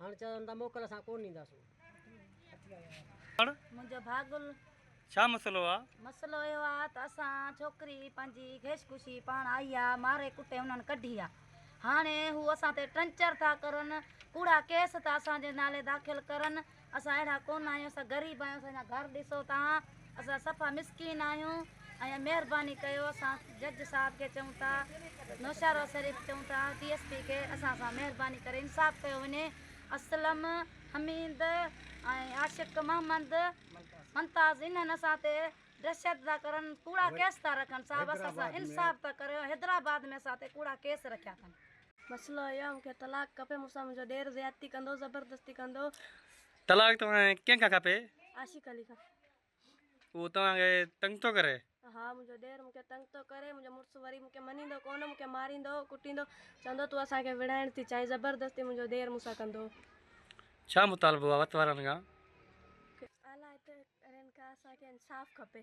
هاڻ چون ٿا موڪل اسان ڪونه ڏينداسون. منهنجو ڀاء گل. ڇا مسئلو آ؟ مسئلو اهو آ ته اسان ڇوڪري پنهنجي گهيش ڪشي پاڻ آئي آ، ماري ڪٽي انهن ڪڍي آ. هاڻي هو اسان تي ٽنچر ٿا ڪرن، ڪوڙا ڪيس ٿا اسان جي نالي داخل ڪرن، اسان اهڙا ڪونه آهيون، اسان غريب آهيون، اسان جا گهر ڏسو توهان. اسان صفا مسڪين آهيون ۽ مهرباني ڪيو اسان جج صاحب کي چئون ٿا نوشهرو شريف چئون ٿا ڊي ايس پي کي اسان سان مهرباني ڪري انصاف ڪيو وڃي اسلم حميد ۽ عاشق محمد منتاز انهن اسان تي ڊهشت ٿا ڪرن ڪوڙا ڪيس ٿا رکن صاحب اسان سان انصاف ٿا ڪريو حيدرآباد ۾ اسان تي ڪوڙا ڪيس رکيا اٿن. مسئلو اهو آهي مون کي طلاق کپي مون سان منهنجو ڏير زيادتي ڪندو زبردستي ڪندو. طلاق توهان کي ڪنهن کان کپي؟ عاشق علي کان. اهو توهان کي تنگ ٿو ڪري؟ ها منهنجو ڏير مون کي تنگ ٿو ڪري، منهنجو مڙس وري مون کي مڃيندو ڪونه، مون کي ماريندو، ڪٽيندو، چوندو تون اسان کي وڙهائڻ ٿي چاهين، زبردستي منهنجو ڏير مون سان ڪندو. ڇا مطالبو آهي وت وارن کان؟ الاهي ته ڪرين ڪا اسان کي انصاف کپي.